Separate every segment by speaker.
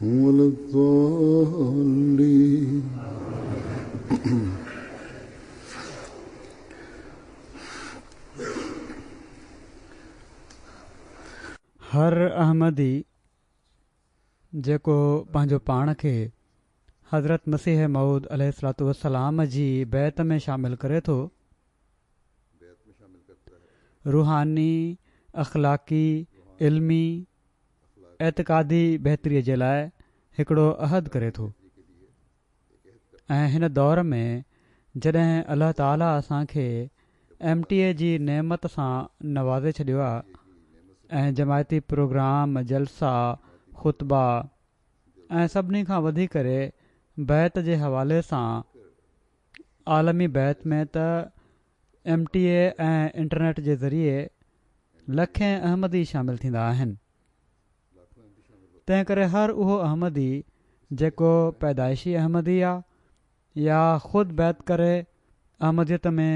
Speaker 1: ولا الضالين
Speaker 2: هر احمدي جيڪو پنهنجو پاڻ کي حضرت مسيح موعود عليه الصلوة والسلام جي بيعت ۾ شامل ڪري ٿو، روحاني، اخلاقي، علمي اعتقادي بهتري جي لاء هڪڙو عهد ڪري ٿو ۽ هن دور ۾ جڏهن الله تعاليٰ اسان کي ايم ٽي اي جي نعمت سان نوازي ڇڏيو آهي ۽ جماعتي پروگرام، جلسا، خطبا ۽ سڀني کان وڌيڪ ڪري بيعت جي حوالي سان عالمي بيعت ۾ ته ايم ٽي اي ۽ انٽرنيٽ جي ذريعي لکين احمدي شامل ٿيندا آهن تنهن ڪري هر اهو احمدي جيڪو پيدائشي احمدي آ يا خود بيت ڪري احمديت ۾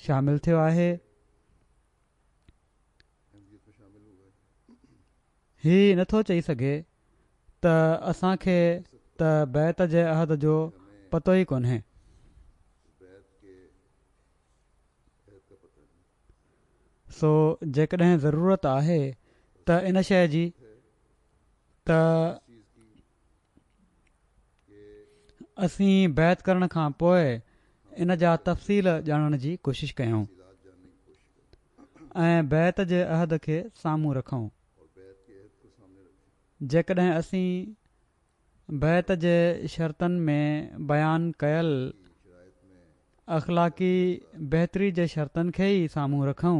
Speaker 2: شامل ٿيو آهي هي نٿو چئي سگهي ته اسان کي ته بيت جي عهد جو پتو ئي ڪونهي سو جيڪڏهن ضرورت آهي ته ان شيء جي ته اسين بيعت ڪرڻ کان پوء ان جا تفصيل ڄاڻڻ جي ڪوشش ڪيون ۽ بيعت جي عهد کي سامهون رکون جيڪڏهن اسين بعت جي شرطن ۾ بيان ڪيل اخلاقي بهتري جي شرطن کي ئي سامهون رکون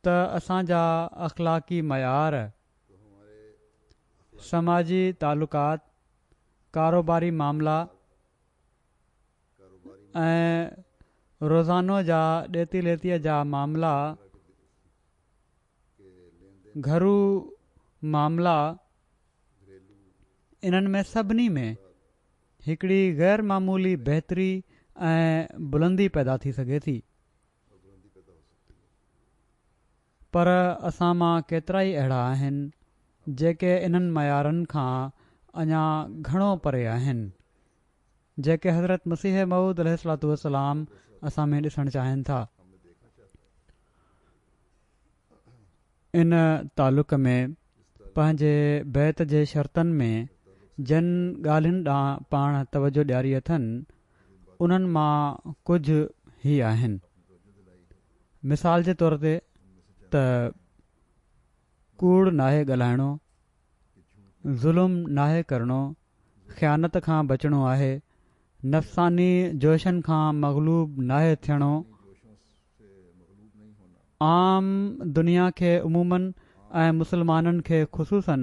Speaker 2: ته اسان جا اخلاقي معيار، سماجي تعلقات، ڪاروباري معاملا ۽ روزانو جا ڏيتي ليتيء جا معاملا گهرو معاملا انهن ۾ سڀني ۾ هڪڙي غير معمولي بهتري ۽ بلندي پيدا ٿي سگهي ٿي پر اسان مان ڪيترائي اهڙا آهن جيڪي انهن معيارن کان اڃا گهڻو پري آهن جيڪي حضرت مسيح موعود عليه السلام اسان ۾ ڏسڻ چاهين ٿا. ان تعلق ۾ پنهنجي بيت جي شرطن ۾ جن ڳالهين ڏانهن پاڻ توجه ڏياري اٿن، انهن مان ڪجهه هي آهن. مثال جي طور تي ته ڪوڙ ناهي ڳالهائڻو، ظلم ناهي ڪرڻو، خيانت کان بچڻو آهي، نفساني جوشن کان مغلوب ناهي ٿيڻو، عام دنيا کي عمومًا ۽ مسلمانن کي خصوصًا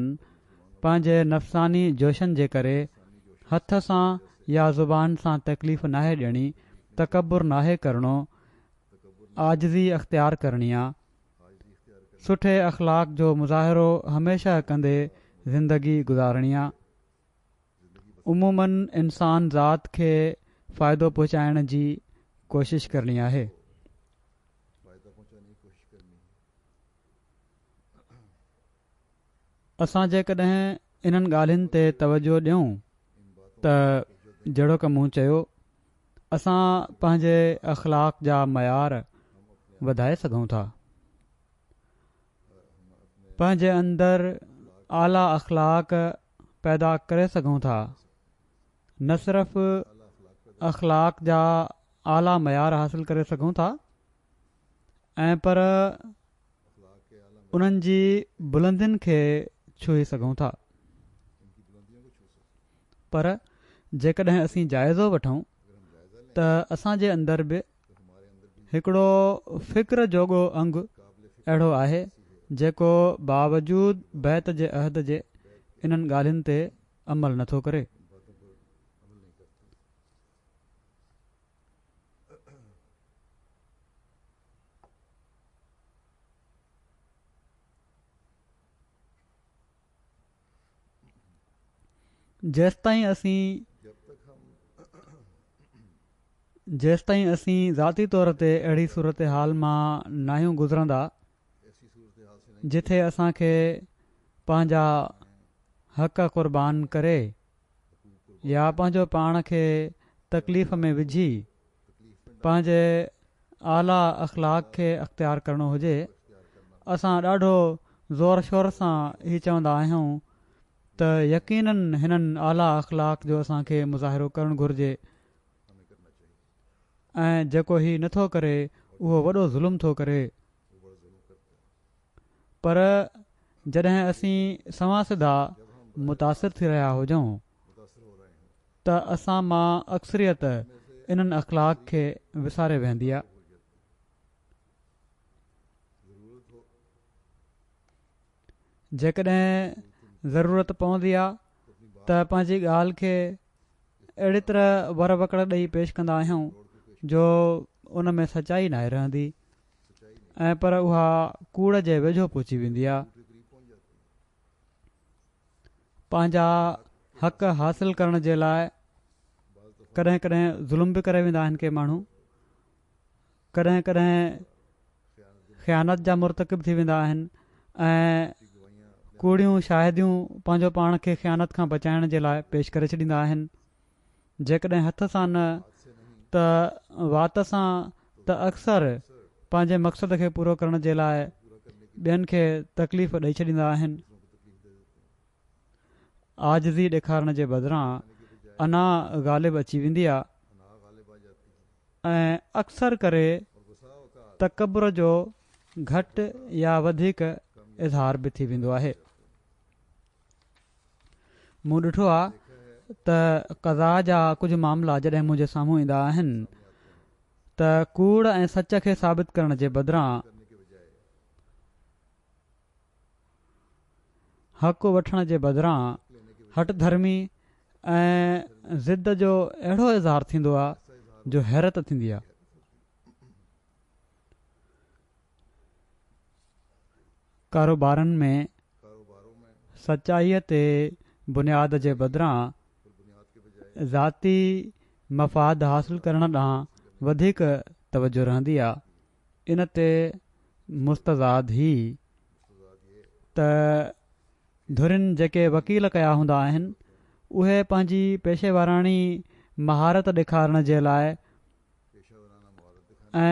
Speaker 2: پنهنجي نفساني جوشن جي ڪري هٿ سان يا زبان سان تڪليف ناهي ڏيڻي، تڪبر ناهي ڪرڻو، عاجزي اختيار ڪرڻي آ. سٺي اخلاق جو مظاهرو هميشه ڪندي زندگي گذارڻي آ. عمومن انسان ذات کي فائدو پهچائڻ جي ڪوشش ڪرڻي آهي. اسان جيڪڏهن انهن ڳالهين تي توجهه ڏيون ته جهڙوڪ مون چيو اسان پنهنجي اخلاق جا معيار وڌائي سگهون ٿا پنهنجي اندر اعليٰ اخلاق پيدا ڪري سگهون ٿا. نه صرف اخلاق جا اعليٰ معيار حاصل ڪري سگهون ٿا ۽ پر انهن جي بلندين کي ڇهي سگهون ٿا. پر جيڪڏهن اسين جائزو وٺون ته اسان جي اندر به هڪڙو فڪر جوڳو انگ اهڙو آهي، جيڪو باوجود بيعت جي عهد جي انهن ڳالهين تي عمل نه ٿو ڪري. جيستائين اسين جيستائين اسين ذاتي طور تي اهڙي صورتحال مان ناهيون گذرندا جٿي اسان کي پنهنجا حق قربان ڪري يا پنهنجو پاڻ کي تڪليف ۾ وجهي پنهنجي اعليٰ اخلاق کي اختيار ڪرڻو هجي اسان ڏاڍو زور شور سان هي چوندا آهيون ته يقينن هنن اعليٰ اخلاق جو اسان کي مظاهرو ڪرڻ گهرجي ۽ جيڪو هي نٿو ڪري اهو وڏو ظلم ٿو ڪري پر جڏهن اسين سوان سڌا متاثر ٿي رهيا هجون ته اسان مان اڪثريت انهن اخلاق کي وساري ويهندي آ. جيڪڏهن ضرورت پوندي آ ته پنهنجي ڳالهه کي اهڙي طرح ور وڪڙ ڏئي پيش ڪندا آهيون جو ان ۾ سچائي ناهي رهندي ۽ پر اها ڪوڙ جي ويجهو پهچي ويندي آ. پنهنجا حق حاصل ڪرڻ جي لاء ڪڏهن ڪڏهن ظلم به ڪري ويندا آهن ڪي ماڻهو ڪڏهن ڪڏهن خيانت جا مرتڪب ٿي ويندا آهن ۽ ڪوڙيون شاهديون پنهنجو پاڻ کي خيانت کان بچائڻ جي لاء پيش ڪري ڇڏيندا آهن. جيڪڏهن هٿ سان نه ته وات سان ته اڪثر پنهنجي مقصد کي پورو ڪرڻ جي لاء ٻين کي تڪليف ڏئي ڇڏيندا آهن. عاجزي ڏيکارڻ جي بدران انا غالب اچي ويندي آ ۽ اڪثر ڪري تڪبر جو گهٽ يا وڌيڪ اظهار به ٿي ويندو آهي. مون ڏٺو آهي ته قضا جا ڪجهه معاملا جڏهن منهنجي سامهون ايندا آهن ته ڪوڙ ۽ سچ کي ثابت ڪرڻ جي بدران حق وٺڻ جي بدران هٺ ڌرمي ۽ ضد جو اهڙو اظهار ٿيندو آهي جو حيرت ٿيندي آهي. ڪاروبارن ۾ سچائيء تي بنياد جي بدران ذاتي مفاد حاصل ڪرڻ ڏانهن وڌيڪ توجهه رهندي آ، ان تي مستزاد هي ته ڌرين جيڪي وڪيل ڪيا هوندا آهن، اهي پنهنجي پيشيواراڻي مهارت ڏيکارڻ جي لاء ۽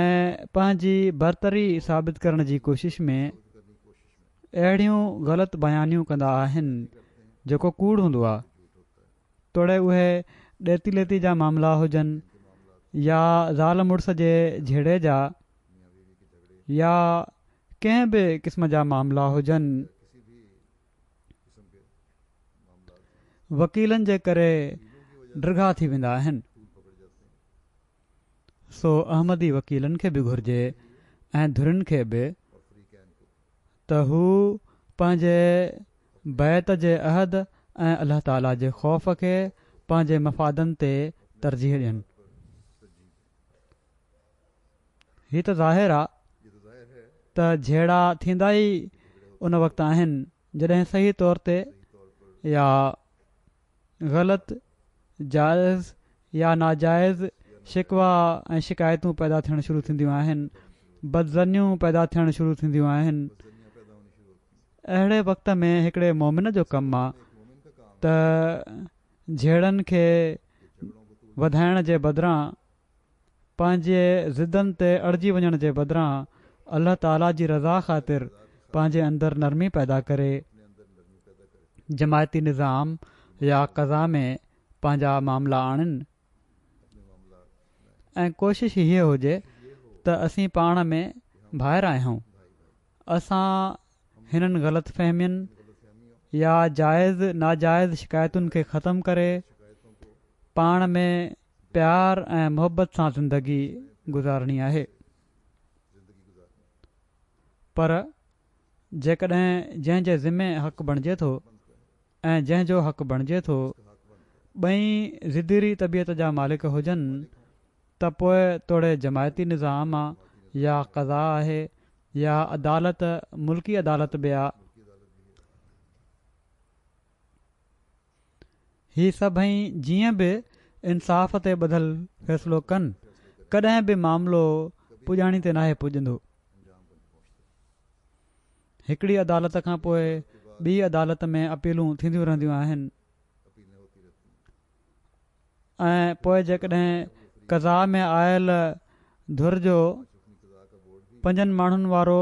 Speaker 2: پنهنجي برتري ثابت ڪرڻ جي ڪوشش ۾ اهڙيون غلط بيانيون ڪندا آهن جيڪو ڪوڙ هوندو آهي توڙي اهي ڏيتي ليتي جا معاملا هجن يا زال مڙس جي جهيڙي جا يا ڪنهن به قسم جا معاملا هجن وڪيلن جي ڪري ڊگها ٿي ويندا آهن سو احمدي وڪيلن کي به گهرجي ۽ ڌرين کي به ته هو پنهنجي بيعت جي عهد ۽ الله تعالي جي خوف کي پنهنجي مفادن تي ترجيح ڏين هي ته ظاهر آ ته جهيڙا ٿيندا ئي ان وقت آهن جڏهن صحيح طور تي يا غلط جائز يا ناجائز شڪوا ۽ شڪايتون پيدا ٿيڻ شروع ٿينديون آهن بدظنيون پيدا ٿيڻ شروع ٿينديون آهن اهڙي وقت ۾ هڪڙي مومن جو ڪم آ ته جهيڙن کي وڌائڻ جي بدران پنهنجي ضدن تي اڙجي وڃڻ جي بدران الله تعالي جي رضا خاطر پنهنجي اندر نرمي پيدا ڪري جماعتي نظام يا قضا ۾ پنهنجا معاملا آڻين ۽ ڪوشش هيء هجي ته اسين پاڻ ۾ ڀائر آهيون اسان هنن غلط فهمين يا جائز ناجائز شڪايتن کي ختم ڪري پاڻ ۾ پيار ۽ محبت سان زندگي گذارڻي آهي پر جيڪڏهن جنهن جي ذمي حق بڻجي ٿو ۽ جنهن جو حق بڻجي ٿو، ٻئي ضديري طبيعت جا مالڪ هجن ته پوء توڙي جماعتي نظام آ يا قضا آهي يا عدالت ملڪي عدالت به آ. هي سڀئي جيئن به انصاف تي ٻڌل فيصلو ڪن، ڪڏهن به معاملو پڄاڻي تي ناهي پڄندو. هڪڙي عدالت کان پوء ٻي عدالت ۾ اپيلون ٿينديون رهنديون آهن ۽ پوء جيڪڏهن قضا ۾ آيل ڌر جو پنجن ماڻهن وارو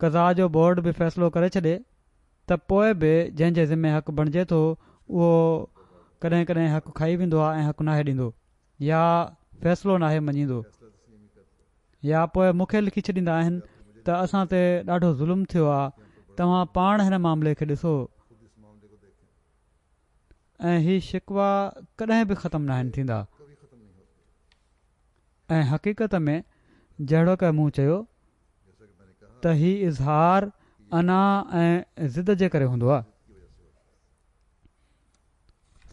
Speaker 2: قضا جو بورڊ به فيصلو ڪري ڇڏي ته پوء به جنهن جي ذمي حق بڻجي ٿو اهو ڪڏهن ڪڏهن حق کائي ويندو آهي ۽ حق ناهي ڏيندو. يا فيصلو ناهي مڃيندو يا پوء مون کي لکي ڇڏيندا آهن ته اسان تي ڏاڍو ظلم ٿيو آ توهان پاڻ هن معاملي کي ڏسو ۽ هي شڪوا ڪڏهن به ختم ناهن ٿيندا ۽ حقيقت ۾ جهڙوڪ مون چيو ته هي اظهار انا ۽ ضد جي ڪري هوندو آ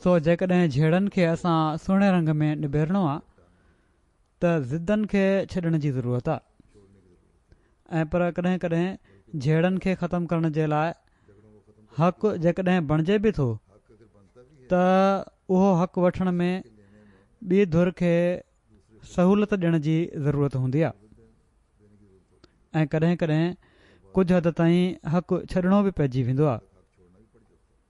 Speaker 2: سو جيڪڏهن جهيڙن کي اسان سهڻي رنگ ۾ نبيرڻو آ ته ضدن کي ڇڏڻ جي ضرورت آ ۽ پر ڪڏهن ڪڏهن جهيڙن کي ختم ڪرڻ جي لاء حق جيڪڏهن بڻجي به ٿو ته اهو حق وٺڻ ۾ ٻي ڌر کي سهولت ڏيڻ جي ضرورت هوندي آ ۽ ڪڏهن ڪڏهن ڪجهه حد تائين حق ڇڏڻو به پئجي ويندو آ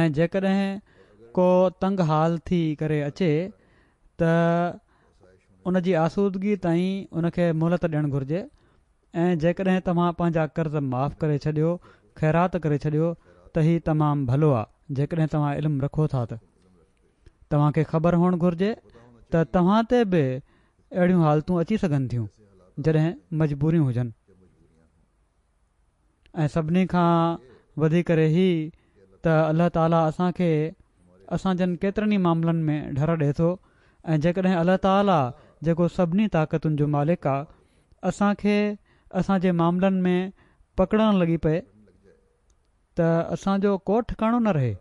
Speaker 2: ۽ جيڪڏهن ڪو تنگ حال ٿي ڪري اچي ته ان جي آسودگي تائين ان کي مهلت ڏيڻ گهرجي ۽ جيڪڏهن توهان پنهنجا قرض معاف ڪري ڇڏيو، خيرات ڪري ڇڏيو ته هي تمام ڀلو آ، جيڪڏهن توهان علم رکو ٿا ته توهان کي خبر هئڻ گهرجي ته توهان تي به اهڙيون حالتون اچي سگهن ٿيون جڏهن مجبوريون هجن. ۽ سڀني کان وڌيڪ ڪري هي ته الله تعالي اسان کي اسان جن ڪيترن ئي معاملن ۾ ڍر ڏئي ٿو ۽ جيڪڏهن الله تعالي جيڪو سڀني طاقتن جو مالڪ آ اسان کي اسان جي معاملن ۾ پڪڙڻ لڳي پئي ته اسان جو ڪو ٺڪاڻو نه رهي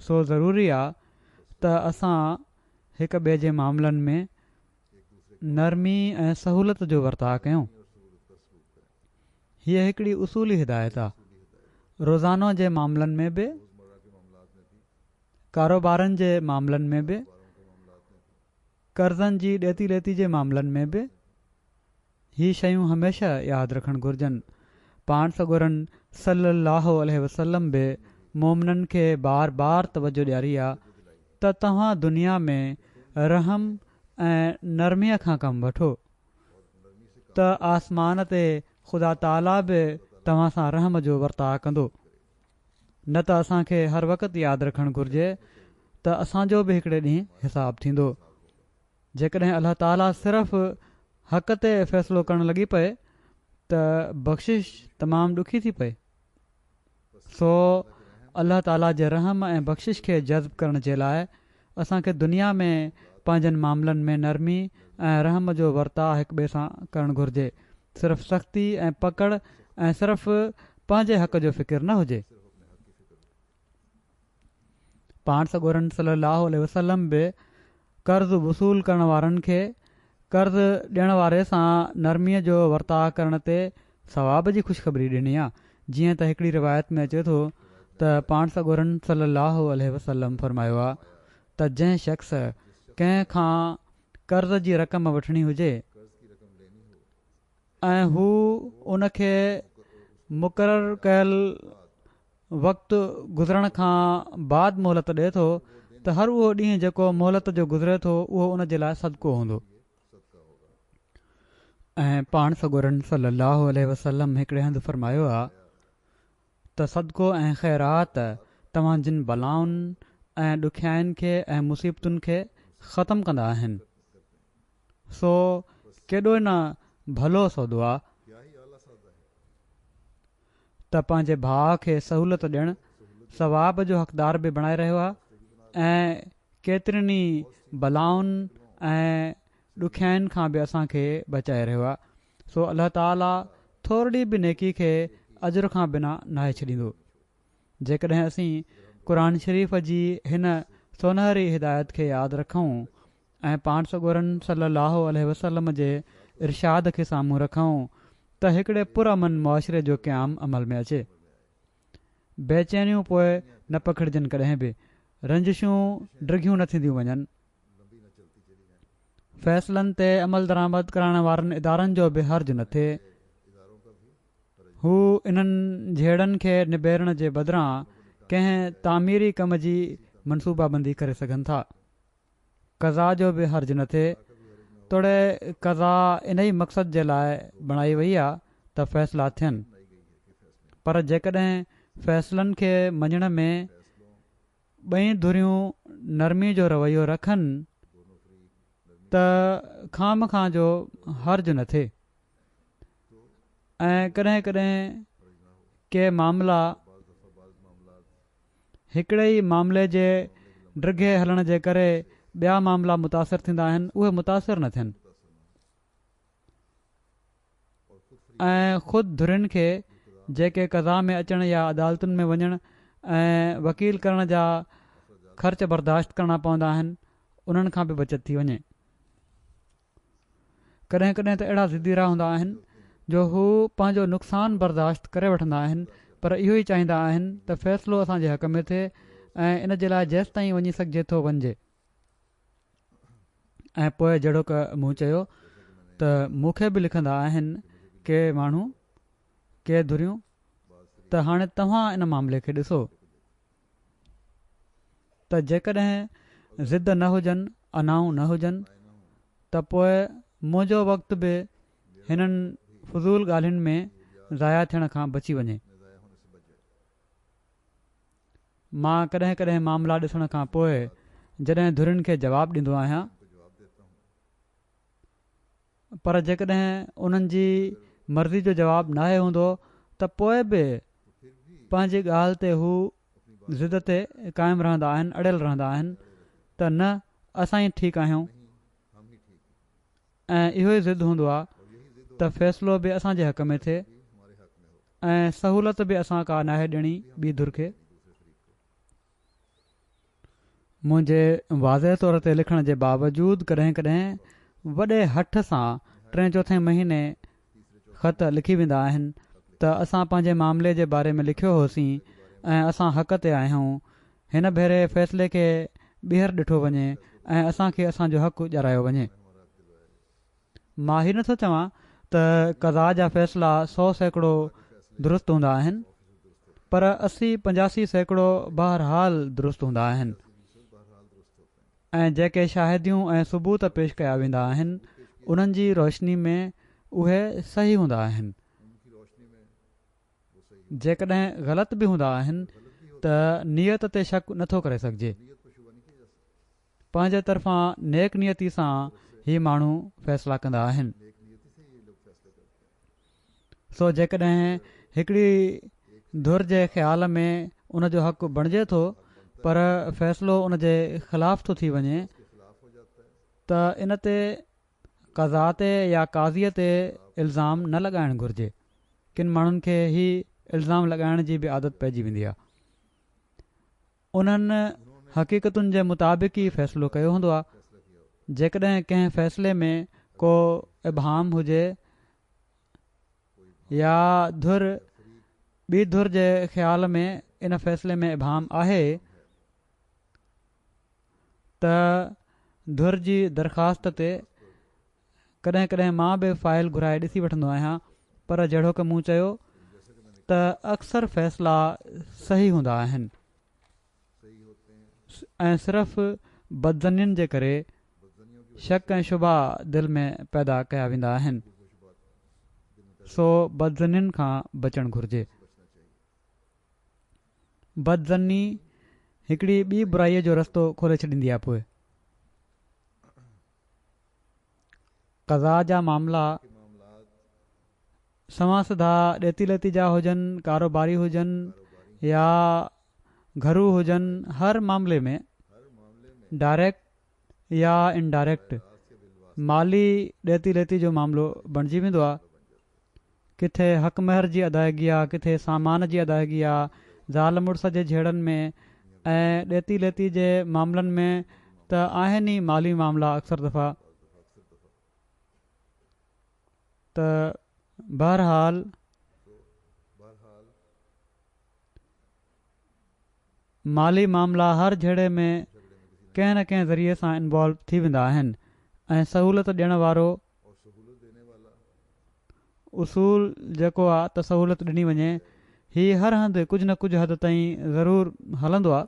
Speaker 2: سو ضروري آ ته اسان هڪ ٻئي جي معاملن ۾ نرمي ۽ سهولت جو ورتاء ڪيون. هيء هڪڙي اصولي هدايت آ. روزانو جي معاملن ۾ به، ڪاروبارن جي معاملن ۾ به، قرضن جي ڏيتي ليتي جي معاملن ۾ به، هي شيون هميشه ياد رکڻ گهرجن. پاڻ سڳورن صلّي اللّٰه عليه وسلّم به مؤمنن کي بار بار توجه ڏياري آ ته توهان دنيا ۾ رحم ۽ نرميء کان ڪم وٺو ته آسمان تي خدا تعاليٰ به توهان سان رحم جو ورتاء ڪندو. نه ته اسان کي هر وقت ياد رکڻ گهرجي ته اسان جو به هڪڙي ڏينهن حساب ٿيندو جيڪڏهن الله تعاليٰ صرف حق تي فيصلو ڪرڻ لڳي پئي ته بخشش تمام ڏکي ٿي پئي. سو الله تعاليٰ جي رحم ۽ بخشش کي جذب ڪرڻ جي لاء اسان کي دنيا ۾ پنهنجن معاملن ۾ نرمي ۽ رحم جو ورتاء هڪ ٻئي سان ڪرڻ گهرجي، صرف سختي ۽ پڪڙ ۽ صرف پنهنجي حق جو فڪر نه هجي. پاڻ سڳورن صلّي اللّٰه عليه وسلّم به قرض وصول ڪرڻ وارن کي قرض ڏيڻ واري سان نرمي جو ورتاء ڪرڻ تي ثواب جي خوشخبري ڏني آ جيئن ته هڪڙي روايت ۾ اچي ٿو ته پاڻ سڳورن صلّي اللّٰه عليه وسلّم فرمايو آ ته جنهن شخص ڪنهن کان قرض جي رقم وٺڻي هجي ۽ هو ان کي مقرر ڪيل وقت گذرڻ کان بعد مهلت ڏئي ٿو ته هر اهو ڏينهن جيڪو مهلت جو گذري ٿو اهو ان جي لاء صدقو هوندو. ۽ پاڻ سڳورن صلّي اللّٰه عليه وسلّم هڪڙي هنڌ فرمايو آ ته صدقو ۽ خيرات توهان جن بلائن ۽ ڏکيائين کي ۽ مصيبتن کي ختم ڪندا آهن. سو ڪيڏو نه ڀلو سودو آ. ته پنهنجي ڀاء کي سهولت ڏيڻ ثواب جو حقدار به بڻائي رهيو آهي ۽ ڪيترين ئي بلائن ۽ ڏکيائين کان به اسان کي بچائي رهيو آهي سو الله تعالي ٿورڙي به نيڪي کي اجر کان بنا ناهي ڇڏيندو جيڪڏهن اسين قرآن شريف جي هن سونهري هدايت کي ياد رکون ۽ پاڻ سڳورن صلي الله عليه وسلم جي ارشاد کي سامهون رکون ته هڪڙي پرامن معاشري جو قيام عمل ۾ اچي. بيچينيون پوء نه پکڙجن ڪڏهن به رنجشون ڊگهيون نه ٿينديون وڃن. فيصلن تي عملدرآمد ڪرائڻ وارن ادارن جو به حرج نه ٿئي. هو انهن جهيڙن کي نبيرڻ جي بدران ڪنهن تعميري ڪم جي منصوبابندي ڪري سگهن ٿا. قضا جو به حرج نه ٿئي، توڙي قضا انهي مقصد جي لاء بڻائي وئي آ ته فيصلا ٿين، پر جيڪڏهن فيصلن کي مڃڻ ۾ ٻئي ڌريون نرمي جو رويو رکن ته خامخواه جو حرج نه ٿئي. ۽ ڪڏهن ڪڏهن ڪي معاملا هڪڙي ئي معاملي جي ڊگهي هلڻ جي ڪري ٻيا معاملا متاثر ٿيندا آهن اهي متاثر نه ٿين ۽ خود ڌرين کي جيڪي قضا ۾ اچڻ يا عدالتن ۾ وڃڻ ۽ وڪيل ڪرڻ جا خرچ برداشت ڪرڻا پوندا آهن انهن کان به بچت ٿي وڃي. ڪڏهن ڪڏهن ته اهڙا ضدي رهيا هوندا آهن جو هو پنهنجو نقصان برداشت ڪري وٺندا آهن پر اهو ئي چاهيندا آهن ته فيصلو اسان جي حق ۾ ٿئي ۽ ان جي لاء جيستائين وڃي سگهجي ٿو وڃجي ۽ پوء جهڙوڪ مون چيو ته مون کي به لکندا آهن ڪي ماڻهو ڪي ڌريون ته هاڻي توهان ان معاملي کي ڏسو ته جيڪڏهن ضد نه هجن، انائون نه هجن، ته پوء منهنجو وقت به هنن فضول ڳالهين ۾ ضايع ٿيڻ کان بچي وڃي. مان ڪڏهن ڪڏهن معاملا ڏسڻ کان پوء جڏهن ڌرين کي جواب ڏيندو آهيان، پر جيڪڏهن انهن جي مرضي جو جواب ناهي هوندو ته پوء به پنهنجي ڳالهه تي هو ضد تي قائم رهندا آهن اڙيل رهندا آهن ته نه اسان ئي ٺيڪ آهيون ۽ اهو ئي ضد هوندو آهي ته فيصلو به اسان جي حق ۾ ٿئي ۽ سهولت به اسان ڪا ناهي ڏيڻي ٻي ڌر کي منهنجي واضح طور تي لکڻ جي باوجود ڪڏهن ڪڏهن وڏي هٺ سان ٽين چوٿين مهيني خط لکي ويندا آهن ته اسان پنهنجي معاملي جي باري ۾ لکيو هوسين ۽ اسان حق تي آهيون هن ڀيري فيصلي کي ٻيهر ڏٺو وڃي ۽ اسان کي اسان جو حق ڏيارايو وڃي. مان هي نٿو چوان ته قضا جا فيصلا سؤ سيڪڙو درست هوندا آهن پر اسي پنجاسي سيڪڙو بهرحال درست هوندا آهن ۽ جيڪي شاهديون ۽ ثبوت پيش ڪيا ويندا آهن انهن جي روشني ۾ اهي صحيح هوندا آهن جيڪڏهن غلط به هوندا آهن ته نيت تي شڪ نٿو ڪري سگهجي. پنهنجي طرفان نيڪ نيتي سان هي ماڻهو فيصلا ڪندا آهن. سو جيڪڏهن هڪڙي ڌر جي خيال ۾ ان جو حق بڻجي ٿو پر فيصلو ان جي خلاف ٿو ٿي وڃي ته ان تي قضا تي يا قاضي تي الزام نه لڳائڻ گهرجي. ڪن ماڻهن کي هي الزام لڳائڻ جي به عادت پئجي ويندي آهي. انهن حقيقتن جي مطابق ئي فيصلو ڪيو هوندو آ جيڪڏهن ڪنهن فيصلي ۾ ڪو ابهام هجي يا ڌر ٻي ڌر جي خيال ۾ ان فيصلي ۾ ابهام آهي ته ڌر جي درخواست تي ڪڏهن ڪڏهن مان به فائل گهرائي ڏسي وٺندو آهيان پر جهڙوڪ مون چيو ته اڪثر فيصلا صحيح هوندا آهن ۽ صرف بدظنين جي ڪري شڪ ۽ شبها دل ۾ پيدا ڪيا ويندا آهن سو بدظنين کان بچڻ گهرجي بدظني هڪڙي ٻي برائي جو رستو کولي ڇڏيندي آهي پوء قضا جا معاملا سوان سڌا ڏيتي ليتي جا هجن، ڪاروباري هجن يا گهرو هجن هر معاملي ۾ ڊائريڪٽ يا انڊائريڪٽ مالي ڏيتي ليتي جو معاملو بڻجي ويندو آهي. ڪٿي حق مهر جي ادائگي آ، ڪٿي سامان جي ادائگي آ، زال مڙس جي جهيڙن ۾ ۽ ڏيتي ليتي جي معاملن ۾ ته آهن ئي مالي معاملا اڪثر دفعا ته بهرحال مالي معاملا هر جهيڙي ۾ ڪنهن نه ڪنهن ذريعي سان انوالو ٿي ويندا آهن ۽ سهولت ڏيڻ وارو اصول جيڪو آ ته سهولت ڏني وڃي هي هر هنڌ ڪجهه نه ڪجهه حد تائين ضرور هلندو آ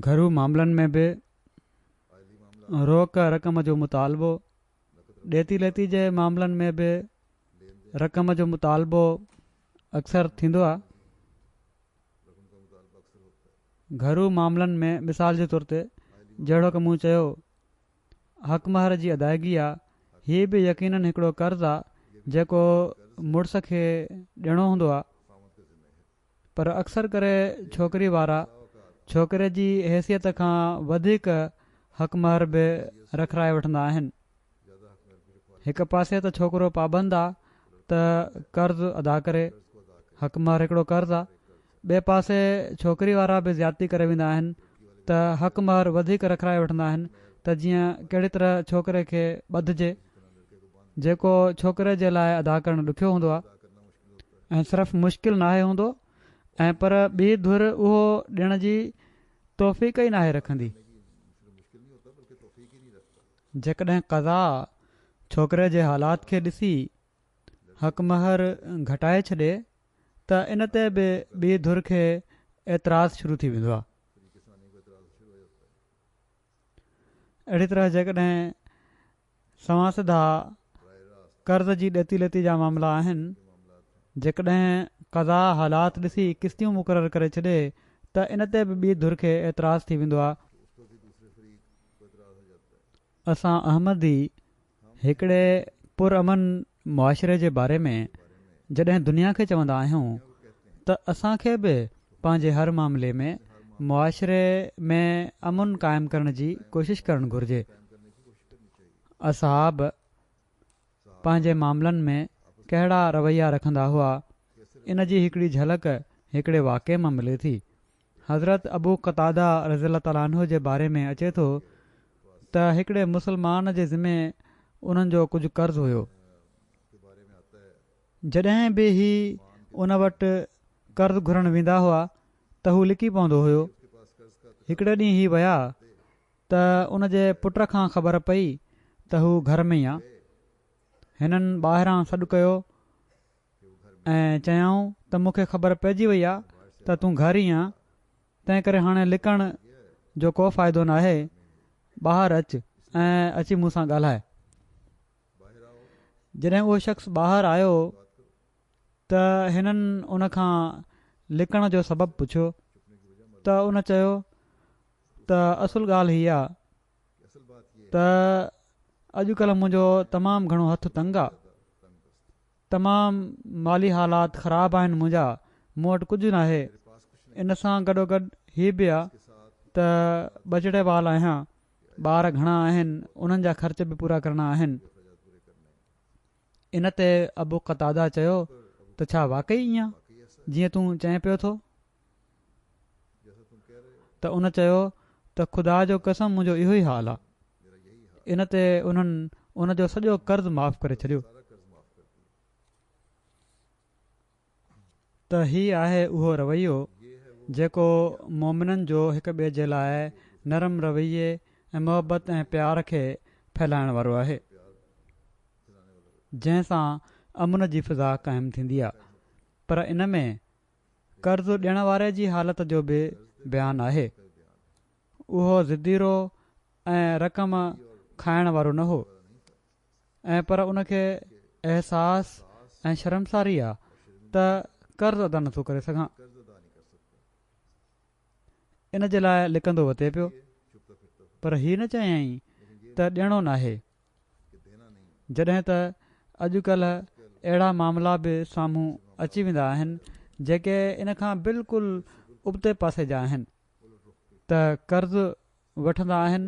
Speaker 2: گهرو معاملن ۾ به روڪ رقم جو مطالبو ڏيتي ليتي جي معاملن ۾ به رقم جو مطالبو اڪثر ٿيندو آهي. گهرو معاملن ۾ مثال جي طور تي جهڙوڪ مون چيو حق مهر جي ادائگي آهي، هي به يقينن هڪڙو قرض آهي جيڪو مڙس کي ڏيڻو هوندو آهي. پر اڪثر ڪري ڇوڪري وارا ڇوڪري جي حيثيت کان وڌيڪ حق مهر به رکرائي وٺندا آهن. هڪ پاسي ته ڇوڪرو پابند آ ته قرض ادا ڪري، حق مهر هڪڙو قرض آ، ٻئي پاسي ڇوڪري وارا به زيادتي ڪري ويندا آهن ته حق مهر وڌيڪ رکرائي وٺندا آهن ته جيئن ڪهڙي طرح ڇوڪري کي ٻڌجي، جيڪو ڇوڪري جي لاء ادا ڪرڻ ڏکيو هوندو آ. ۽ صرف مشڪل ناهي هوندو ۽ پر ٻي ڌر اهو ڏيڻ جي توفيق ئي ناهي رکندي. جيڪڏهن قضا ڇوڪري جي حالات کي ڏسي حق مهر گهٽائي ڇڏي ته ان تي به ٻي ڌر کي اعتراض شروع ٿي ويندو آهي. اهڙي طرح جيڪڏهن. سوان سڌا قرض جي ڏتي لتي جا معاملا آهن، جيڪڏهن قضا حالات ڏسي قسطيون مقرر ڪري ڇڏي ته ان تي به ٻي ڌر کي اعتراض ٿي ويندو آهي. اسان احمدي هڪڙي پرامن معاشري جي باري ۾ جڏهن دنيا کي چوندا آهيون ته اسان کي به پنهنجي هر معاملي ۾ معاشري ۾ امن قائم ڪرڻ جي ڪوشش ڪرڻ گهرجي. اصحاب پنهنجي معاملن ۾ ڪهڙا رويا رکندا هئا ان جي هڪڙي جهلڪ هڪڙي واقعي مان ملي ٿي. حضرت ابو قتاده رضي الله تعالٰي عنه جي باري ۾ اچي ٿو ته هڪڙي مسلمان جي ذمي انهن جو ڪجهه قرض هيو. جڏهن به هي ان وٽ قرض گهرڻ ويندا هئا ته هو لڪي پوندو هيو. هڪڙي ڏينهن هي ويا ته ان جي پٽ کان خبر پئي ته هو گهر ۾ ئي آ. هنن ٻاهران سڏ ڪيو. ۽ چيائون ته مون کي خبر پئجي وئي آ ته تون گهر ئي آن، تنهن ڪري هاڻي لڪڻ جو ڪو فائدو ناهي، ٻاهر اچ ۽ اچي مون سان ڳالهاء. جڏهن اهو شخص ٻاهر آيو ته هنن ان کان لڪڻ جو سبب پڇيو ته ان چيو ته اصل ڳالهه هي آ ته اڄ ڪلهه منهنجو تمام گهڻو هٿ تنگ آ تمام مالي حالات خراب آهن منهنجا مون وٽ ڪجهه ناهي ان سان گڏوگڏ هي به آ ته ٻجهڙي وال آهيان ٻار گهڻا آهن انهن جا خرچ به پورا ڪرڻا آهن ان تي ابو قتاده چيو ته ڇا واقعي ايئن جيئن تون چئين پيو ٿو؟ ته ان چيو ته خدا جو قسم منهنجو اهو ئي حال آ. ان تي انهن ان جو سڄو قرض معاف ڪري ڇڏيو. ته هي آهي اهو رويو جيڪو مؤمنن جو هڪ ٻئي جي لاء نرم رويي ۽ محبت ۽ پيار کي ڦهلائڻ وارو آهي جنهن سان امن جي فضا قائم ٿيندي آهي پر ان ۾ قرض ڏيڻ واري جي حالت جو به بيان آهي اهو ضدي رو ۽ رقم کائڻ وارو نه هو ۽ پر ان کي احساس ۽ شرمساري آ ته قرض ادا نٿو ڪري سگهان. ان جي لاء لڪندو وتي پيو. پر هي نه چيائين ته ڏيڻو ناهي. جڏهن ته اڄ ڪلهه اهڙا معاملا به سامهون اچي ويندا آهن جيڪي ان کان بلڪل ابتي پاسي جا آهن ته قرض وٺندا آهن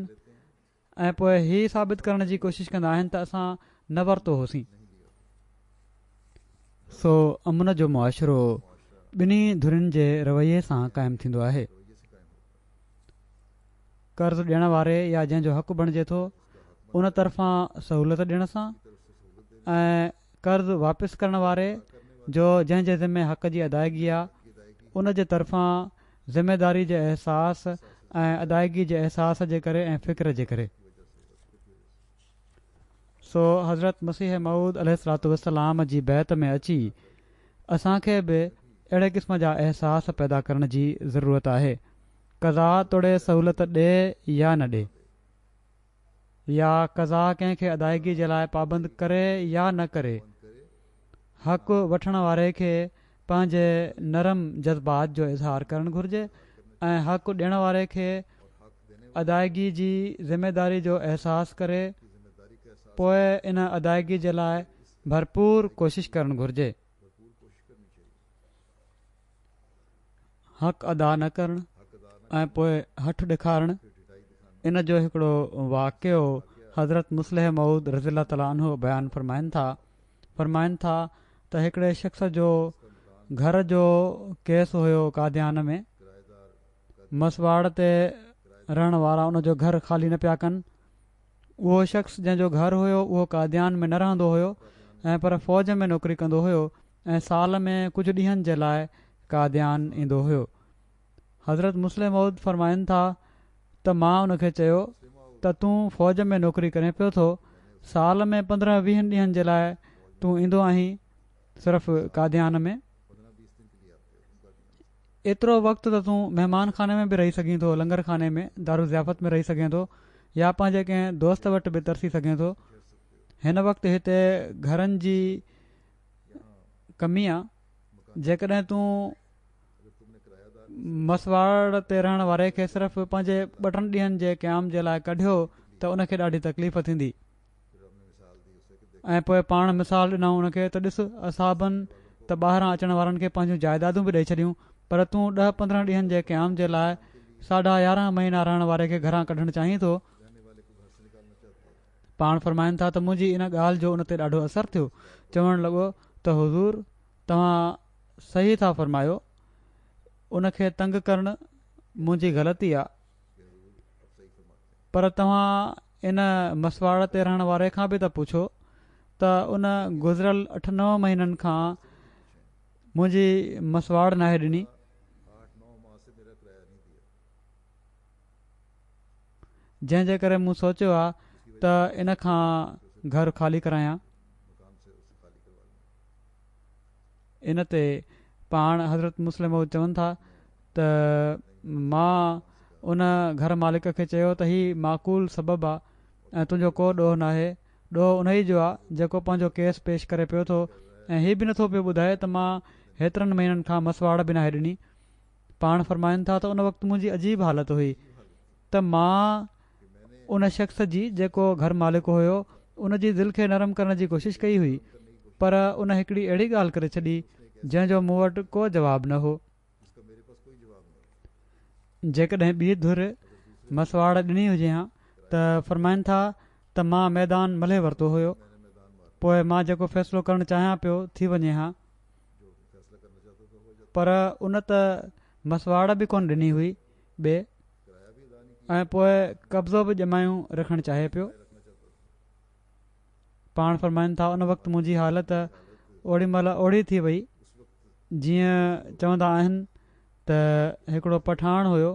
Speaker 2: ۽ پوء هي ثابت ڪرڻ جي ڪوشش ڪندا آهن ته اسان نه ورتو هوسين. سو امن جو معاشرو ٻنهي ڌرين جي رويي سان قائم ٿيندو آهي. قرض ڏيڻ واري يا جنهن جو حق بڻجي ٿو ان طرفان سهولت ڏيڻ سان ۽ قرض واپس ڪرڻ واري جو جنهن جي ذمي حق جي ادائيگي آ ان جي طرفان ذميداري جي احساس ۽ ادائيگي جي احساس جي ڪري ۽ فڪر جي ڪري. سو حضرت مسيح موعود عليه الصلوة والسلام جي بيعت ۾ اچي اسان کي به اهڙي قسم جا احساس پيدا ڪرڻ جي ضرورت آهي. قضا توڙي سهولت ڏي يا نه ڏي. يا قضا ڪنهن کي ادائگي جي لاء پابند ڪري يا نه ڪري، حق وٺڻ واري کي پنهنجي نرم جذبات جو اظهار ڪرڻ گهرجي ۽ حق ڏيڻ واري کي ادائگي جي ذميواري جو احساس ڪري پوء ان ادائگي جي لاء ڀرپور ڪوشش ڪرڻ گهرجي. حق ادا نه ڪرڻ ۽ پوء هٺ ڏيکارڻ ان جو هڪڙو واقعو حضرت مصلح مئود رضي الله تعالٰي عنه بيان فرمائن ٿا فرمائن ٿا ته هڪڙي شخص جو گهر جو ڪيس هيو قاديان ۾ مسواڙ تي رهڻ وارا ان جو گهر خالي نه پيا ڪن اهو شخص جنهن جو گهر هيو اهو قاديان ۾ نه رهندو هيو ۽ پر فوج ۾ نوڪري ڪندو هيو ۽ سال ۾ ڪجهه ڏينهن جي لاء قاديان ايندو هيو. حضرت مسلم موعود فرمائن ٿا ته مان ان کي چيو ته تون فوج ۾ نوڪري ڪرين پيو ٿو، سال ۾ پندرهن ويهن ڏينهن جي لاء تون ايندو آهين صرف قاديان ۾؟ ايترو وقت ته تون مهمان خاني ۾ به رهي سگهين ٿو، لنگر خاني ۾، دارالضيافت ۾ رهي سگهين ٿو يا پنهنجي ڪنهن دوست وٽ به ترسي سگهين ٿو. هن وقت هتي گهرن جي ڪميا جيڪڏهن تون مسواڙ تي رهڻ واري کي صرف پنهنجي ٻه ٽن ڏينهن جي قيام جي لاء ڪڍيو ته ان کي ڏاڍي تڪليف ٿيندي ۽ پوء پاڻ مثال ڏنائون ان کي ته ڏس اصحابن ته ٻاهران اچڻ وارن کي پنهنجون جائيدادون به ڏئي ڇڏيون پر تون ڏهه پندرهن ڏينهن جي قيام جي لاء ساڍا يارهن مهينا رهڻ واري کي گهران ڪڍڻ چاهين ٿو پاڻ فرمائن ٿا ته منهنجي ان ڳالهه جو ان تي ڏاڍو اثر ٿيو، چوڻ لڳو ته حضور توهان صحيح ٿا فرمايو، ان کي تنگ ڪرڻ منهنجي غلطي آ، پر توهان ان مسواڙ تي رهڻ واري کان به ته پڇو ته ان گذريل اٺ نو مهينن کان منهنجي مسواڙ ناهي ڏني. جنهن جي ڪري مون سوچيو آ ته ان کان گهر خالي ڪرايان. ان تي پاڻ حضرت مسلم مئود چون ٿا ته مان ان گهر مالڪ کي چيو ته هي معقول سبب آ ۽ تنهنجو ڪو ڏوهه ناهي، ڏوهه انهي جو آ جيڪو پنهنجو ڪيس پيش ڪري پيو ٿو ۽ هي به نٿو پيو ٻڌائي ته مان هيترن مهينن کان مسواڙ به ناهي ڏني. پاڻ فرمائن ٿا ته ان وقت منهنجي عجيب حالت هئي ته مان ان شخص جي جيڪو گهر مالڪ هيو ان جي دل کي نرم ڪرڻ جي ڪوشش ڪئي هئي پر ان هڪڙي اهڙي ڳالهه ڪري ڇڏي جنهن جو مون وٽ ڪو جواب نه هو جيڪڏهن ٻي ڌر مسواڙ ڏني هجي ها ته فرمائن ٿا ته مان ميدان ملهي ورتو هيو پوء مان جيڪو فيصلو ڪرڻ چاهيان پيو ٿي وڃي ها پر ان ته مسواڙ به ڪونه ڏني هئي ٻي ۽ پوء قبضو به ڄمايون رکڻ چاهي پيو پاڻ فرمائن ٿا ان وقت منهنجي حالت اوڙي مهل اوڙي ٿي وئي جيئن چوندا آهن ته هڪڙو پٺاڻ هيو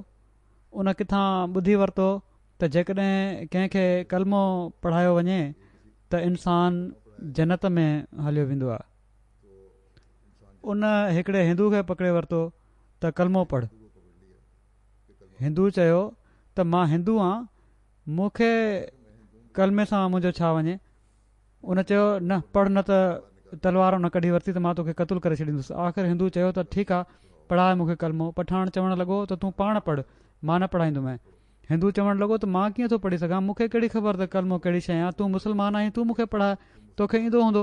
Speaker 2: ان ڪٿان ٻڌي ورتو ته جيڪڏهن ڪنهن کي ڪلمو پڙهايو وڃي ته انسان جنت ۾ هليو ويندو آهي ان هڪڙي هندو کي پڪڙي ورتو ته ڪلمو پڙهه. هندو چيو ته مان هندو آهيان مون کي ڪلمي سان منهنجو ڇا وڃي. ان چيو نه پڙهه نه ته تلوار ان ڪڍي ورتي ته مان توکي قتل ڪري ڇڏيندس. آخر هندو چيو ته ٺيڪ آهي پڙهاء مون کي ڪلمو. پٺاڻ چوڻ لڳو ته تون پاڻ پڙهه مان نه پڙهائيندومئين. هندو چوڻ لڳو ته مان ڪيئن ٿو پڙهي سگهان مون کي ڪهڙي خبر ته ڪلمو ڪهڙي شيء آهي تون مسلمان آهين تون مون کي پڙهاء توکي ايندو هوندو.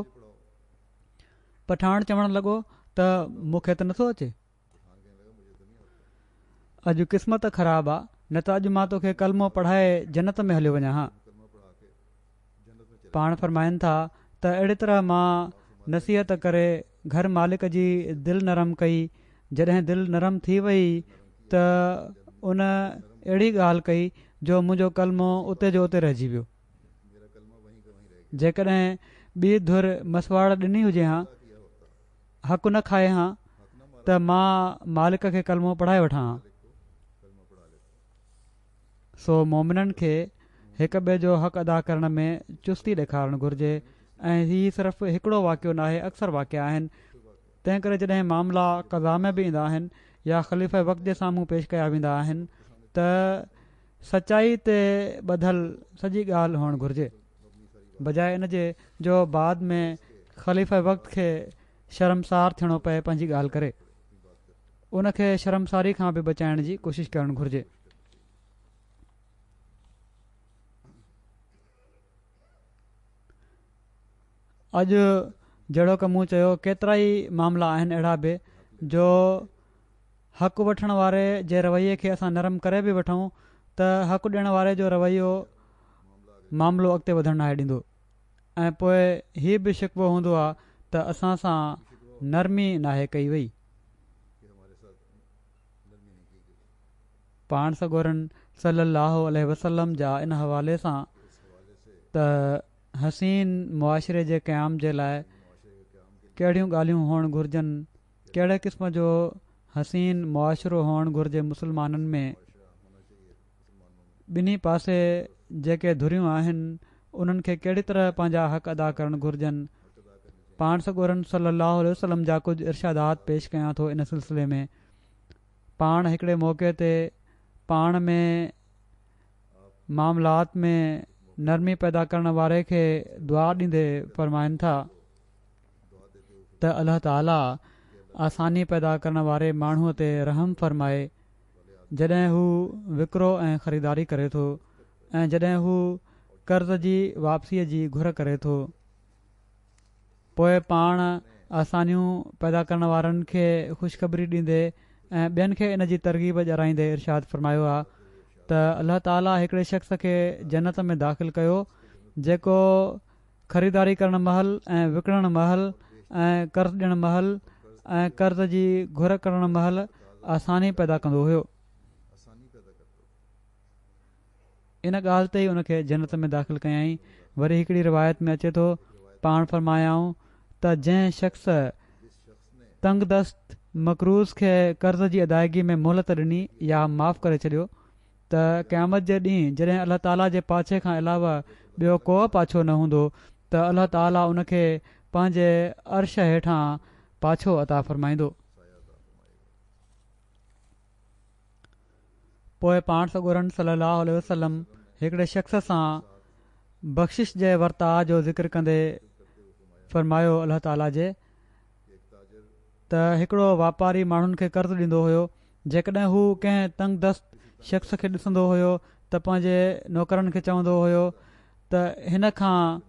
Speaker 2: پٺاڻ چوڻ لڳو ته مون کي ته نٿو اچي. اڄ قسمت خراب آ نه ته اڄ مان توکي ڪلمو پڙهائي جنت ۾ هليو وڃان ها. پاڻ فرمائن ٿا ته اهڙي طرح مان نصيحت ڪري گهر مالڪ جي دل نرم ڪئي جڏهن دل نرم ٿي وئي ته ان اهڙي ڳالهه ڪئي جو منهنجو ڪلمو اتي جو اتي رهجي ويو. جيڪڏهن ٻي ڌر مسواڙ ڏني هجي هان، حق نه کائي هان ته مان مالڪ کي ڪلمو پڙهائي وٺان هان. سو مومنن کي هڪ ٻئي جو حق ادا ڪرڻ ۾ چستي ڏيکارڻ گهرجي ۽ هي صرف هڪڙو واقعو ناهي اڪثر واقعا آهن تنهن ڪري جڏهن معاملا قضا ۾ به ايندا آهن يا خليفه وقت جي سامهون پيش ڪيا ويندا آهن ته سچائي تي ٻڌل سڄي ڳالهه هئڻ گهرجي بجاء ان جي جو بعد ۾ خليفه وقت کي شرمسار ٿيڻو پئي پنهنجي ڳالهه ڪري ان کي شرمساري کان به بچائڻ جي ڪوشش ڪرڻ گهرجي اڄ جهڙوڪ مون چيو ڪيترائي معاملا آهن اهڙا به جو حق وٺڻ واري جي رويي کي اسان نرم ڪري به وٺون ته حق ڏيڻ واري جو رويو معاملو اڳتي وڌڻ ناهي ڏيندو ۽ پوء هي به شڪوو هوندو آهي ته اسان سان نرمي ناهي ڪئي وئي. پاڻ سڳورن صلي الله عليه وسلم جا ان حوالي سان ته حسين معاشري جي قيام جي لاء ڪهڙيون ڳالهيون هئڻ گهرجن؟ ڪهڙي قسم جو حسين معاشرو هئڻ گهرجي مسلمانن ۾؟ ٻنهي پاسي جيڪي ڌريون آهن انهن کي ڪهڙي طرح پنهنجا حق ادا ڪرڻ گهرجن؟ پاڻ سڳورن صلي الله عليه وسلم جا ڪجهه ارشادات پيش ڪيان ٿو ان سلسلي ۾. پاڻ هڪڙي موقعي تي پاڻ ۾ معاملات ۾ نرمي پيدا ڪرڻ واري کي دعا ڏيندي فرمائن ٿا ته الله تعالي آساني پيدا ڪرڻ واري ماڻهو تي رحم فرمائي جڏهن هو وڪرو ۽ خريداري ڪري ٿو ۽ جڏهن هو قرض جي واپسي جي گهر ڪري ٿو. پوء پاڻ آسانيون پيدا ڪرڻ وارن کي خوشخبري ڏيندي ۽ ٻين کي ان جي ترغيب ڄارائيندي ارشاد فرمايو آهي ته الله تعالي هڪڙي شخص کي جنت ۾ داخل ڪيو جيڪو خريداري ڪرڻ مهل ۽ وڪڻڻ مهل ۽ قرض ڏيڻ مهل ۽ قرض جي گهر ڪرڻ مهل آساني پيدا ڪندو هيو ان ڳالهه تي ئي ان کي جنت ۾ داخل ڪيائين. وري هڪڙي روايت ۾ اچي ٿو، پاڻ فرمايائون ته جنهن شخص تنگدست مقروض کي قرض جي ادائيگي ۾ مهلت ڏني يا معاف ڪري ڇڏيو ته قيامت جي ڏينهن جڏهن الله تعاليٰ جي پاڇي کان علاوه ٻيو ڪوئه پاڇو نه هوندو ته الله تعاليٰ ان کي پنهنجي عرش هيٺان پاڇو عطا فرمائيندو. پوء پاڻ سڳورن صلّي اللّٰه عليه وسلّم هڪڙي شخص سان بخشش جي ورتاء جو ذڪر ڪندي فرمايو، الله تعاليٰ جي ته هڪڙو واپاري ماڻهن کي قرض ڏيندو هيو، جيڪڏهن هو ڪنهن تنگ دست شخص کي ڏسندو هيو ته پنهنجي نوڪرن کي چوندو هيو ته هن کان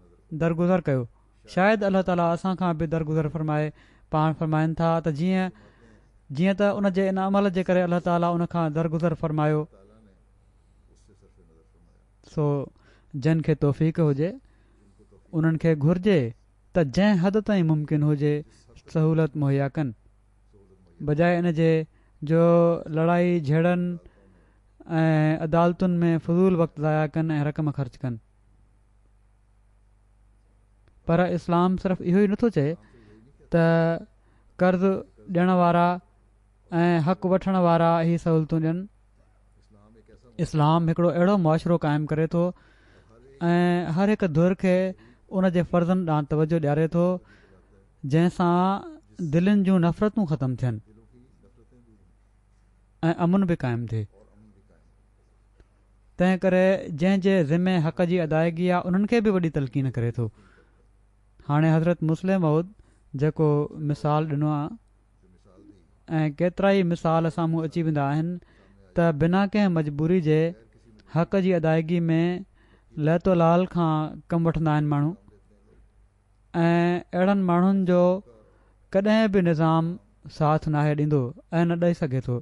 Speaker 2: درگذر ڪيو. شايد الله تعاليٰ اسان کان به درگذر فرمائي، پاڻ فرمائن ٿا ته جيئن جيئن ته ان جي ان عمل جي ڪري الله تعاليٰ ان کان درگذر فرمايو سو جن کي توفيق هجي انهن کي گهرجي ته جنهن حد تائين ممڪن هجي سهولت مهيا ڪن بجاء ان جي جو لڙائي جهيڙن ۽ عدالتن ۾ فضول وقت ضايع ڪن ۽ رقم خرچ ڪن. پر اسلام صرف اهو ئي نه ٿو چئي ته قرض ڏيڻ وارا ۽ حق وٺڻ وارا هي سهولتون ڏين اسلام هڪڙو اهڙو معاشرو قائم ڪري ٿو ۽ هر هڪ ڌر کي ان جي فرضن ڏانهن توجه ڏياري ٿو جنهن سان دلين جون نفرتون ختم ٿين ۽ امن به قائم ٿئي تنهن ڪري جنهن جي ذمي حق جي ادائگي آ انهن کي به وڏي تلقين ڪري ٿو هاڻي حضرت مسلم مئود جيڪو مثال ڏنو آ ۽ ڪيترائي مثال سامهون اچي ويندا آهن ته بنا ڪنهن مجبوري جي حق جي ادائگي ۾ ليت و لال کان ڪم وٺندا آهن ماڻهو ۽ اهڙن ماڻهن جو ڪڏهن به نظام ساٿ ناهي ڏيندو ۽ نه ڏئي سگهي ٿو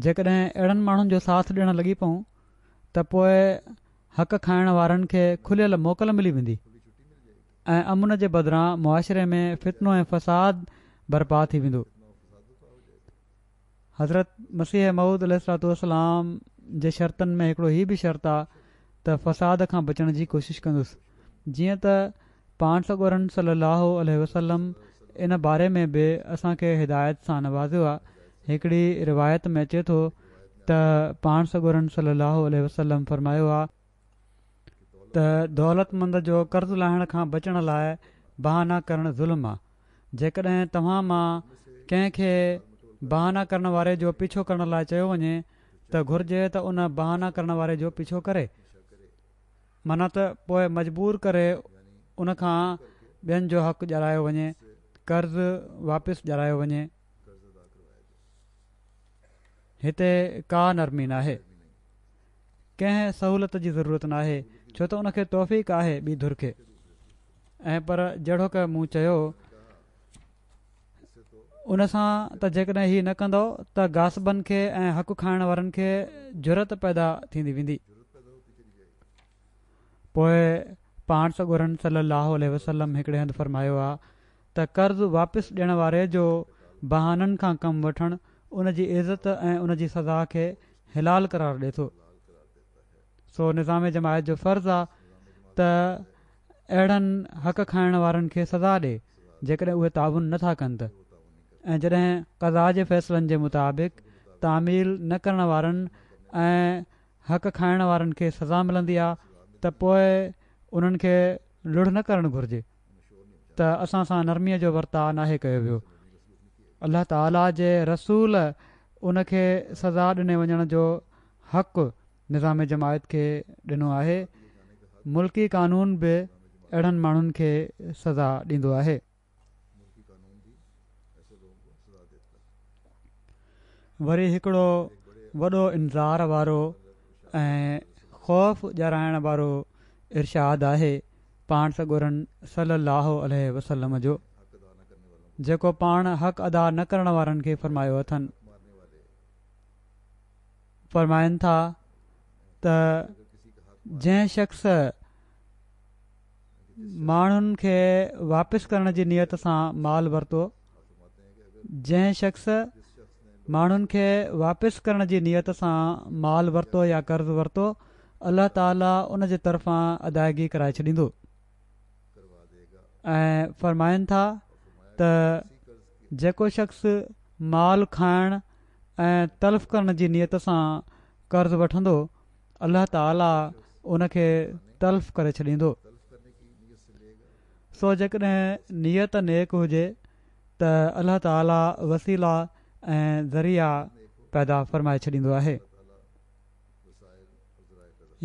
Speaker 2: جيڪڏهن اهڙن ماڻهن جو ساٿ ڏيڻ لڳي پئون ته پوء حق کائڻ وارن کي کليل موڪل ملي ويندي ۽ امن جي بدران معاشري ۾ فتنو ۽ فساد برپا ٿي ويندو حضرت مسيح مود عليه السلام جي شرطن ۾ هڪڙو هي به شرط آ ته فساد کان بچڻ جي ڪوشش ڪندس جيئن ته پاڻ سڳورن صلّي اللّٰه عليه وسلّم ان باري ۾ به اسان کي هدايت سان نوازيو آهي. هڪڙي روايت ۾ اچي ٿو ته پاڻ سڳورن صلّي اللّٰه عليه وسلّم فرمايو آهي ته دولتمند جو قرض لاهڻ کان بچڻ لاء بهانا ڪرڻ ظلم آهي. جيڪڏهن توهان مان ڪنهن کي بهانا ڪرڻ واري جو پيڇو ڪرڻ لاء چيو وڃي ته گهرجي ته ان بهانا ڪرڻ واري جو پيڇو ڪري. منهن ته پوء مجبور ڪري ان کان ٻين جو حق ڄارايو وڃي، قرض واپس ڄارايو وڃي. هتي ڪا نرمي ناهي. ڪنهن سهولت جي ضرورت ناهي، ڇو ته ان کي توفيق آهي ٻي ڌر کي. ۽ پر جهڙوڪ مون چيو ان سان ته جيڪڏهن هي نه ڪندؤ ته غاصبن کي ۽ حق کائڻ وارن کي جرئت پيدا ٿيندي ويندي. پوء پاڻ سڳورن صلّي اللّٰه عليه وسلّم هڪڙي هنڌ فرمايو آ ته قرض واپس ڏيڻ واري جو بهانن کان ڪم وٺڻ ان جي عزت ۽ ان جي سزا کي حلال قرار ڏي ٿو. سو نظام جماعت جو فرض آ ته اهڙن حق کائڻ وارن کي سزا ڏي جيڪڏهن اهي تعاون نه ٿا ڪن ته ۽ جڏهن قضا جي فيصلن جي مطابق تعميل نه ڪرڻ وارن ۽ حق کائڻ وارن کي سزا ملندي آهي ته پوء انهن کي لڙهه نه ڪرڻ گهرجي ته اسان سان نرميء جو ورتاء ناهي ڪيو ويو الله تعالي جي رسول ان کي سزا ڏني وڃڻ جو حق نظام جماعت کي ڏنو آهي، ملڪي قانون به اهڙن ماڻهن کي سزا ڏيندو آهي. وري هڪڙو وڏو انذار وارو ۽ خوف ڄارائڻ وارو ارشاد آهي پاڻ سڳورن صلّي اللّٰه عليه وسلّم جو، جيڪو پاڻ حق ادا نه ڪرڻ وارن کي فرمايو اٿن. فرمائن ٿا ته جنهن شخص ماڻهن کي واپس ڪرڻ جي نيت سان مال ورتو جنهن شخص ماڻهن کي واپس ڪرڻ جي نيت سان مال ورتو يا قرض ورتو الله تعالي ان جي طرفان ادائگي ڪرائي ڇڏيندو ۽ فرمائن ٿا ته جيڪو شخص مال کائڻ ۽ تلف ڪرڻ جي نيت سان قرض وٺندو الله تعالي ان کي تلف ڪري ڇڏيندو سو جيڪڏهن نيت نيڪ هجي ته الله تعالي وسيلا ۽ ذريعا پيدا فرمائي ڇڏيندو آهي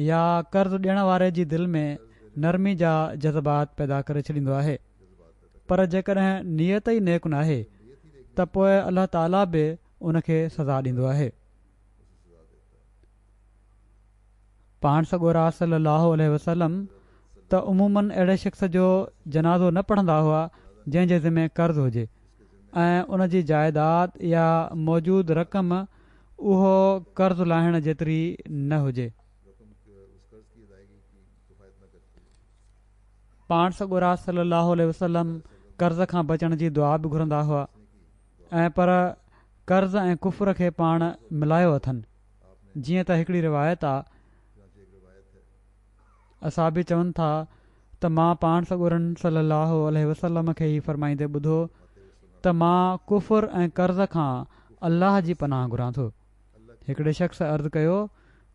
Speaker 2: يا قرض ڏيڻ واري جي دل ۾ نرمي جا جذبات پيدا ڪري ڇڏيندو آهي پر جيڪڏهن نيت ئي نيڪ ناهي ته پوء الله تعالي به ان کي سزا ڏيندو آهي پاڻ سڳورا صلي الله عليه وسلم ته عموماً اهڙي شخص جو جنازو نه پڙهندا هئا جنهن جي ذمي قرض هجي ۽ ان جي جائيداد يا موجود رقم اهو قرض لاهڻ جيتري نه هجي. پاڻ سڳورا صلي الله عليه وسلم قرض کان بچڻ جي دعا به گهرندا هئا ۽ پر قرض ۽ ڪفر کي پاڻ ملايو اٿن جيئن ته هڪڙي روايت آ اصحابي چون ٿا ته مان پاڻ سڳورن صلّي اللّٰه عليه وسلّم کي هي فرمائيندي ٻڌو ته مان ڪفر ۽ قرض کان الله جي پناهه گهران ٿو هڪڙي شخص عرض ڪيو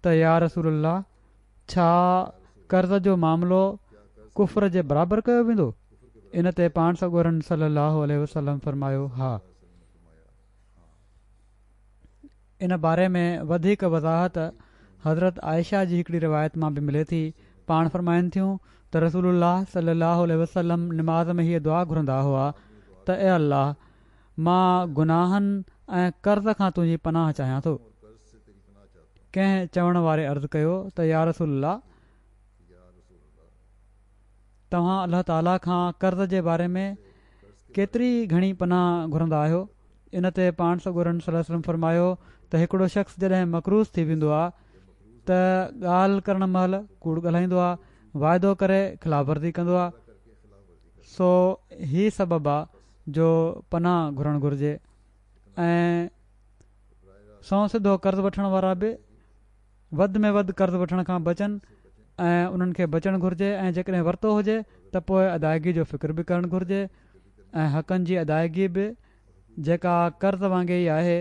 Speaker 2: ته يا رسول الله ڇا قرض جو معاملو ڪفر جي برابر ڪيو ويندو ان تي پاڻ سڳورن صلّي اللّٰه عليه وسلّم فرمايو ها ان باري ۾ وڌيڪ وضاحت حضرت عائشه جي هڪڙي روايت مان به ملي ٿي پاڻ فرمائن ٿيون ته رسول الله صلي الله عليه وسلم نماز ۾ هيء دعا گهرندا هئا ته اي الله مان گناهن ۽ قرض کان تنهنجي پناهه چاهيان ٿو ڪنهن چوڻ واري عرض ڪيو ته يا رسول الله توهان الله تعاليٰ کان قرض جي باري ۾ ڪيتري گهڻي پناهه گهرندا آهيو؟ ان تي پاڻ سڳورن صلي الله عليه وسلم فرمايو ته هڪڙو شخص جڏهن مقروض ٿي ويندو آهي ته ڳالهه ڪرڻ مهل ڪوڙ ڳالهائيندو آهي، واعدو ڪري خلاف ورزي ڪندو آهي، سو هي سبب آهي جو پناهه گهرڻ گهرجي ۽ سنئون سڌو قرض وٺڻ وارا به وڌ ۾ وڌ قرض وٺڻ کان بچن ۽ انهن کي بچڻ گهرجي ۽ جيڪڏهن ورتو هجي ته پوء ادائگي جو فڪر به ڪرڻ گهرجي ۽ حقن جي ادائگي به جيڪا قرض وانگي ئي آهي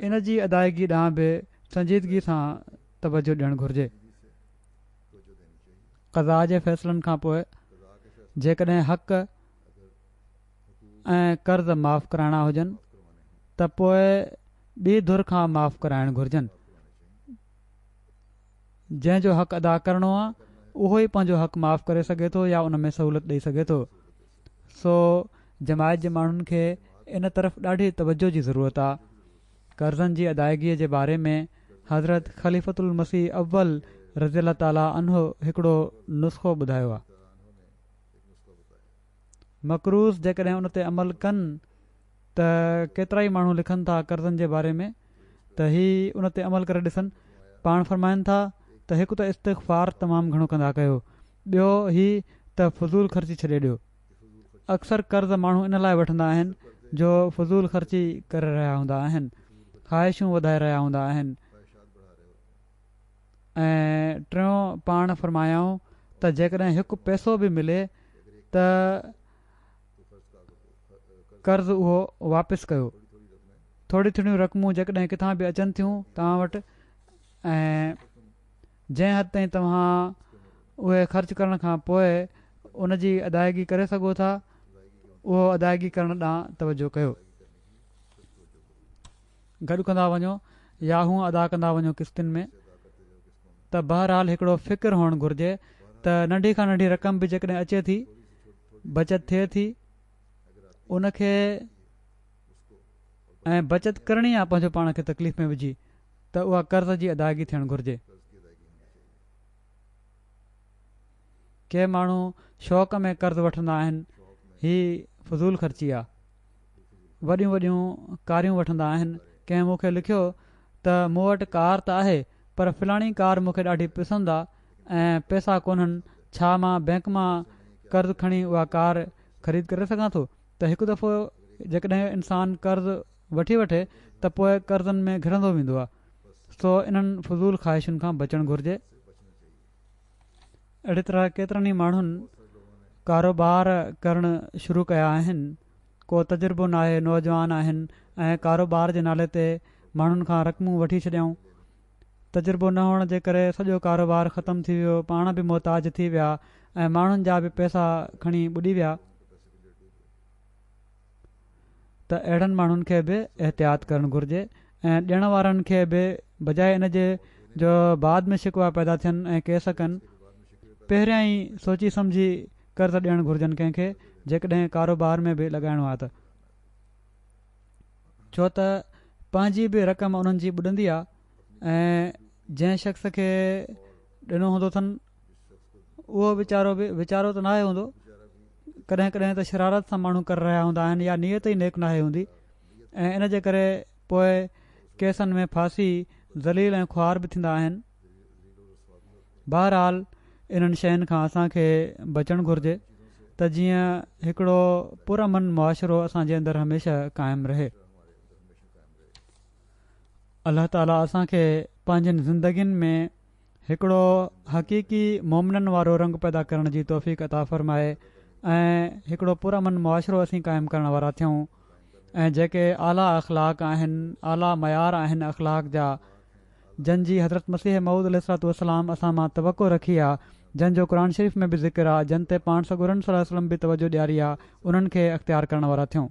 Speaker 2: ان جي ادائگي ڏانهن به سنجيدگي سان توجهه ڏيڻ گهرجي قضا جي فيصلن کان پوء جيڪڏهن حق ۽ قرض معاف ڪرائڻا هجن ته پوء ٻي ڌر کان معاف ڪرائڻ گهرجن. جنهن جو حق ادا ڪرڻو آ اهو ئي پنهنجو حق معاف ڪري سگهي ٿو يا ان ۾ سهولت ڏئي سگهي ٿو. سو جماعت جي ماڻهن کي ان طرف ڏاڍي توجهه جي ضرورت آ. قرضن جي ادائيگي جي باري ۾ حضرت خليفة المسيح اول رضي الله تعالٰي عنه هڪڙو نسخو ٻڌايو آ. مڪروز جيڪڏهن ان تي عمل ڪن ته ڪيترائي ماڻهو لکن ٿا قرضن جي باري ۾ ته هي ان تي عمل ڪري ڏسن پاڻ فرمائن ٿا ته هڪ ته استغفار تمام گهڻو ڪندا ڪيو ٻيو هي ته فضول خرچي ڇڏي ڏيو اڪثر قرض ماڻهو ان لاء وٺندا آهن جو فضول خرچي ڪري رهيا هوندا آهن خواهشون وڌائي رهيا هوندا آهن ۽ ٽيون پاڻ فرمايائون ته جيڪڏهن هڪ پئسو به ملي ته قرض اهو واپس ڪيو ٿوري ٿوريون رقمون جيڪڏهن ڪٿان به اچن ٿيون توهان وٽ ۽ جنهن حد تائين توهان اهي خرچ ڪرڻ کان پوء ان جي ادائيگي ڪري سگهو ٿا اهو ادائيگي ڪرڻ ڏانهن توجه ڪيو گڏ ڪندا وڃو يا هونء ادا ڪندا وڃو قسطن ۾ ته بهرحال هڪڙو فڪر هئڻ گهرجي ته ننڍي کان ننڍي رقم به جيڪڏهن اچي ٿي بچت ٿئي ٿي ان کي ۽ بچت ڪرڻي آ پنهنجو پاڻ کي تڪليف ۾ وجهي ته اها قرض جي ادائگي ٿيڻ گهرجي ڪي ماڻهو شوق ۾ قرض وٺندا آهن هي فضول خرچي آ وڏيون وڏيون ڪاريون وٺندا آهن. ڪنهن مون کي لکيو ته مون وٽ ڪار ته آهي پر فلاڻي ڪار مون کي ڏاڍي پسند آ ۽ پئسا ڪونهن ڇا مان بئنڪ مان قرض کڻي اها ڪار خريد ڪري سگهان ٿو ته هڪ دفعو جيڪڏهن انسان قرض وٺي وٺي ته پوء قرضن ۾ گهرندو ويندو آ سو انهن فضول خواهشن کان بچڻ گهرجي. اهڙي طرح ڪيترن ئي ماڻهن ڪاروبار ڪرڻ شروع ڪيا آهن ڪو تجربو ناهي نوجوان آهن ۽ ڪاروبار جي نالي تي ماڻهن کان رقمون وٺي ڇڏيائون تجربو نه هئڻ جي ڪري سڄو ڪاروبار ختم ٿي ويو پاڻ به محتاج ٿي ويا ۽ ماڻهن جا به پئسا کڻي ٻڏي ويا ته اهڙن ماڻهن کي به احتياط ڪرڻ گهرجي ۽ ڏيڻ وارن کي به بجاء ان جي جو بعد ۾ شڪوا پيدا ٿين ۽ ڪيس ڪن پهريان ئي سوچي سمجهي قرض ڏيڻ گهرجن ڪنهن کي جيڪڏهن ڪاروبار ۾ به لڳائڻو آهي ته ڇو ته پنهنجي به رقم انهن جي ٻڏندي آهي ۽ جنهن شخص کي ڏنو هوندو اٿن اهو ويچارو به ويچارو ته ناهي هوندو ڪڏهن ڪڏهن ته شرارت سان ماڻهو ڪري رهيا هوندا آهن يا نيت ئي نيڪ ناهي هوندي ۽ ان جي ڪري پوء ڪيسن ۾ ڦاسي ذليل ۽ خوار به ٿيندا آهن بهرحال انهن شين کان اسان کي بچڻ گهرجي ته جيئن هڪڙو پرامن معاشرو اسان جي اندر هميشه قائم رهي الله تعالي اسان کي پنهنجين زندگين ۾ هڪڙو حقيقي مومنن وارو رنگ پيدا ڪرڻ جي توفيق عطا فرمائي ۽ هڪڙو پرامن معاشرو اسين قائم ڪرڻ وارا ٿيون ۽ جيڪي اعليٰ اخلاق آهن اعليٰ معيار آهن اخلاق جا جن جي حضرت مسيح مود عليه السلام اسان مان توقع رکي آ جن جو قرآن شريف ۾ به ذڪر آ جن تي پاڻ سڳورن صلي وسلم به توجه ڏياري آ انهن کي اختيار ڪرڻ وارا ٿيون.